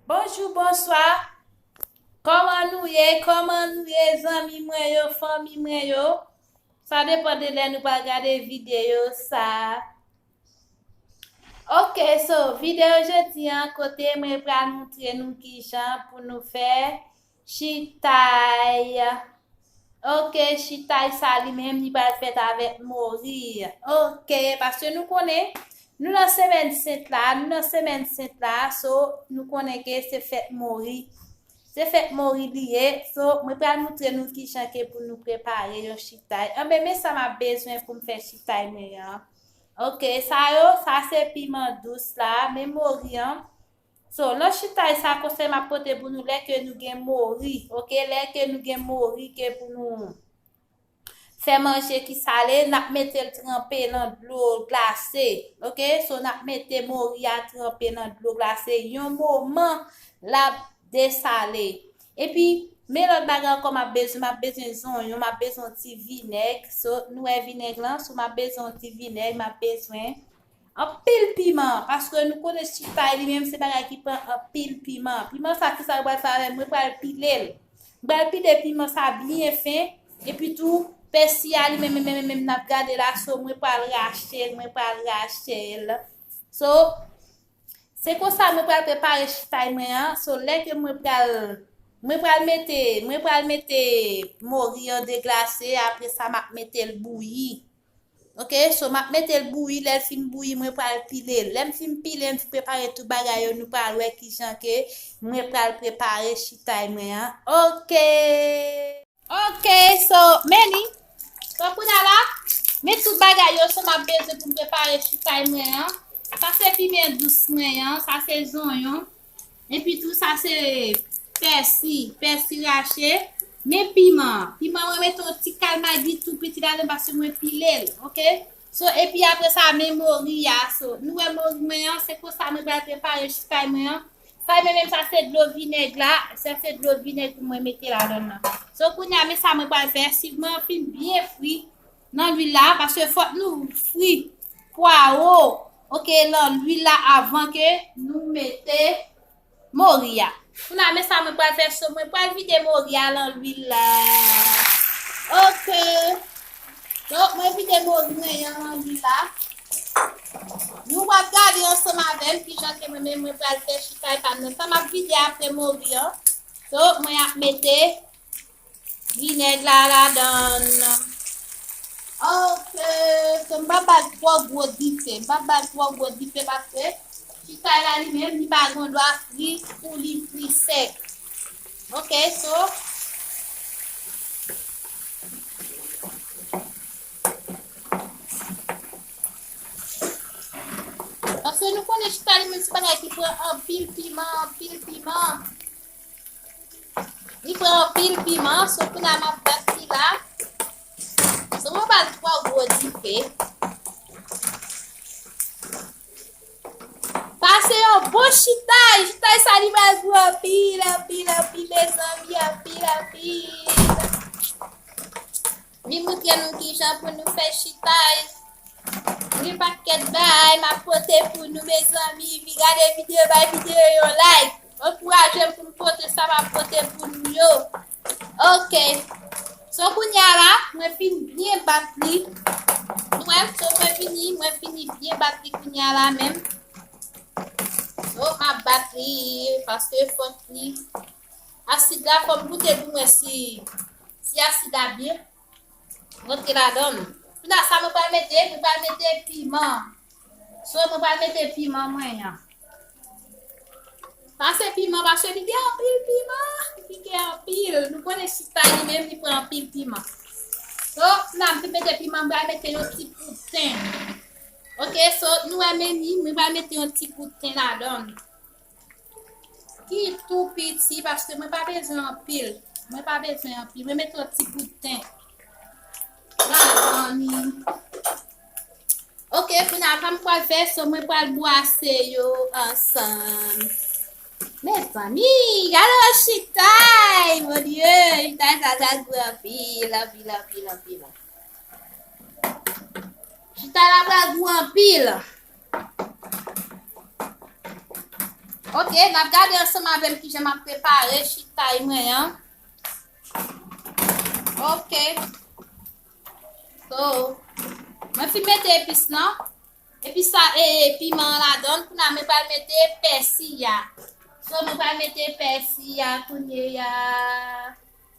Bonjou bonswa Koman nou ye koman nou ye zanmi mwen yo fanmi mwen yo Sa depan de lè nou pral gade videyo sa Ok so videyo jodi an kote mwen pral moutre nou kijan pou nou fè Chitay ok chitay sa li menm li pral fèt avèk mori ok paske nou konnen nou nan semèn sent la nou nan semèn sent la so nou konnen ke se fèt mori se fèt mori li ye so mwen pral moutre nou ki jan ke pou nou prepare yon chitay anbe men sa m ap bezwen pou m fè chitay mwen an ok sa yo sa se piman dous la men mori an So lot chitay sa konsey map pote pou nou lè ke nou gen mori ok lè ke nou gen mori ke pou nou fè manje ki sale nap metel tranpe nan dlo glase ok so nap mete mori a tranpe nan dlo glase yon moman lap desale epi Men lòt bagay ankò map bezwen, map bezwen zonyon, map bezwen ti vinèg, so nou wè vinèg lan, so map bezwen ti vinèg, map bezwen Anpil piman, paske nou konnen sweet pie li menm se bagay ki pran anpil piman. Piman sa ki sa nou pral fè avèl, mwen pral pile l. M pral pile piman sa byen fen, epi tou pèsi a li menm menm menm menm nap gade la so mwen pral rache l, mwen pral rache l. So, se konsa mwen pral prepare sweet pie mwen an, so lè ke mwen pral, mwen pral mete, mwen pral mete mori an deglase, apresa map mete l bouyi. Ok so map metel bouyi lèl fin bouyi mwen pral pilel lèm fin pile m fin prepare tout bagay yo nou pral wè kijan ke mwen pral prepare chitay mwen an ok. Ok so meni so kounye la men tout bagay yo sa map bezwen poum prepare chitay mwen an sa se pimen dous mwen an sa se zonyon Epi tou sa se pèsi, pèsi rache. Men piman an, piman an mwen mete yon ti kal magi tou piti ladann paske mwen pile l ok. So epi apre sa men mori a, so nou wè mori mwen an se konsa mwen pral prepare fay mwen an. Fay mwen menm sa se dlo vinèg la, sa se dlo vinèg mwen mete ladann nan. So kounya men sa mwen pral fè, swiv mwen anfin byen fri Nan lwil la paske fok nou fri pwaro ok lan lwil la avan ke nou mete mori ya. Kounaa men sa mwen pwal fè so mwen pwal vide mori ya lan lwil la ok donk mwen vide mori mwen yan lan lwil la nou wap gade ansanm avèm kijan ke mwen men mwen pwal fè chitay pam nan sa map vide apre mori an donk mwen ap mete. Vinèg la ladann. Ok, so m pa bay twò gwo dife. M pa bay twò gwo dife paske chichay la li menm li pa gon dwa fri pou li fri sèk. Ok, so Paske nou konnen chichay li menm se bagay ki pran anpil piman, anpil piman. Li pran anpil piman, so kounye a m ap bat sila. San mwen ba l twò gwo dife. Pase yon bon chitay, chitay sa li pral gwo anpil, anpil, anpil mezanmi, anpil, anpil. Li moutre nou kijan pou nou fè chitaj. Gen paket bagay map pote pou nou mezanmi vi gade video bay video yon like ankourajem pou m pote sa map pote pou nou yo ok so kounya la mwen fin byen bat li nou wè so mwen vini mwen fini byen bat li kounya la menm so map bat li paske fòk li Asid la fòm goute pou mwen si si asid la byen rantre ladann. Kounya sa mwen pral mete, mwen pral mete piman. So mwen pral mete piman mwen an. Pase piman pase li gen anpil piman, li pike anpil. Nou konnen chista li menm li pran anpil piman. So, kounya mwen fin mete piman, mwen pral mete yon ti poud ten. Ok, so nou wè meni, mwen pral mete yon ti poud ten ladann. Ki tou piti paske mwen pa bezwen anpil. Mwen pa bezwen anpil. Mwen met yon ti bout ten. Ok, pou nan pa m kwa fè, so mwen kwa l bwase yo ansan. Mè zanmi, gade yon chitay, mwen diye, chitay sa ta gwe anpil, anpil, anpil, anpil. Chitay la pa gwe anpil. Ok, n ap gade ansanm avè m kijan m ap prepare chitay mwen an. Ok. So, mwen fin mete epis nan. Epis sa e piman an la don. Kou na mwen pral mete pèsi ya. So, mwen pral mete pèsi ya kounye ya.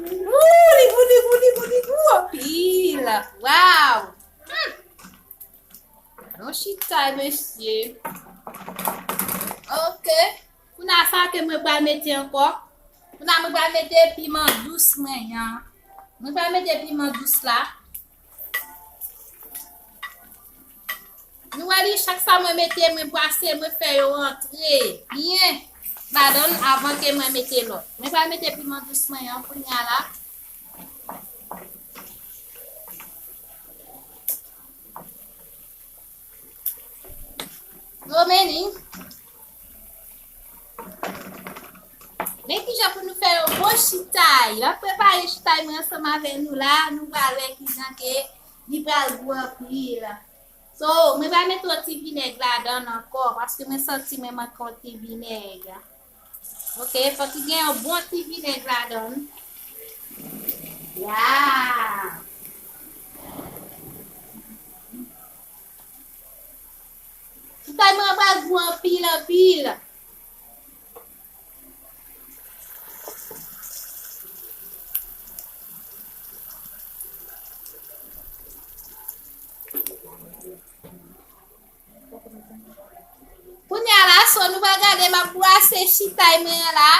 Wouh, li gou, li gou, li gou, li gou anpil. Waw. Hmm. Non chitay, mesye. Ok. Pou na sa ke mwen pral mete anko. Pou na mwen pral mete piman dous mwen yan. Mwen pral mete piman dous la. Nou wè li chak sa mwen mete mwen bwase mwen fè yo antre byen ladann avan ke mwen mete lòt. Mwen pral mete piman dous mwen an kounya la. Yo meni. Men ki jan pou nou fè yon bon chitay. Mwen prepare chitay mwen ansanm avè nou la. Nou pral wè ki jan ke li pral gou anpil. So mwen va met yon ti vinèg ladann ankò paske mwen santi mwen manke yon ti vinèg. Ok, fòk li gen yon bon ti vinèg ladann. Waw! Ti kay mwen an pral gou anpil anpil. Kounya la so nou va gade ma brase chitay mwen la.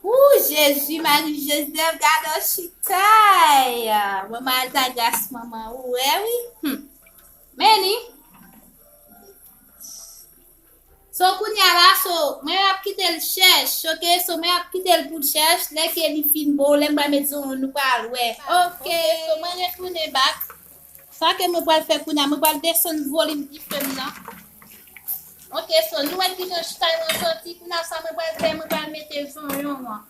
Ouh Jésus Marie Joseph gade chitay. Mwen mal ta gras maman ou eh oui. Hmm. Meni. So kounya la so mwen ap kitel chèch ok so mwen ap kitel poul chèch lè ke li fin boo lèm pral met zonw nou pral wè ok so mwen retounen back sa ke mwen pral fè kounya mwen pral desann volim difem nan ok so nou wè kijan chay lan santi kounya sa mwen pral fè mwen pral mete zonyon an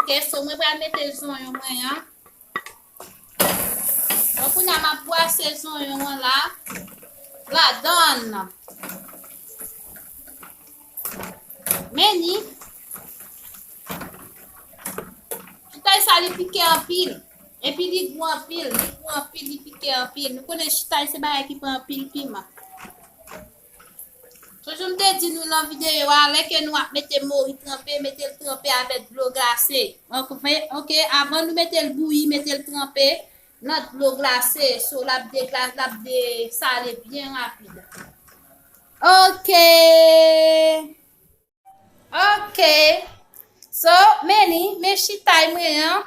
ok so mwen pral mete zonyon mwen an. Bon kounye a m ap bwase zonyon an la ladan l. Men ni. Chitay sa li pike anpil. Epi li gou anpil, li gou anpil, li pike anpil. Nou konnen chitay se bagay ki pran anpil piman. Toujou m te di nou lan videyo a lè ke nou ap mete mori tranpe metel tranpe avèk dlo glase ok avan nou metel bouyi metel tranpe nan dlo glase so lap de glase lap de sale byen rapid ok. Ok. So, Meni, men chitay mwen an,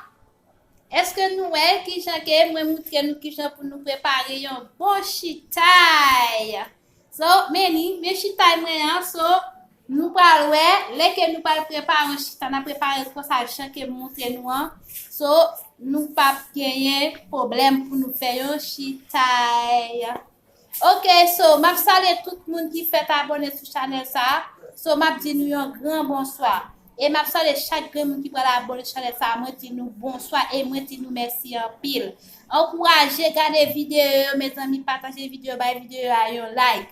eske nou wè ki jan ke mwen moutre nou ki jan pou nou prepare yon bon chitay. So, Meni, men chitay mwen an, so, nou pral wè, lè ke nou pral prepare yon chitay, nan prepare l konsa jan ke moutre nou an, so, nou pap genyen problem pou nou fè yon chitay. Ok so map salye tout moun ki fèt abone sou chanèl sa so map di nou yon gran bonswa e map salye chak grenn moun ki pral abone sou chanèl sa mwen di nou bonswa e mwen di nou mèsi anpil ankouraje gade videyo yo mezanmi pataje videyo bay videyo a yon like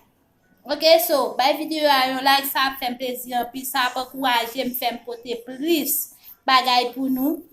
ok so bay videyo a yon like sa ap fèm plezi anpil sa ap ankourajem fèm pote plis bagay pou nou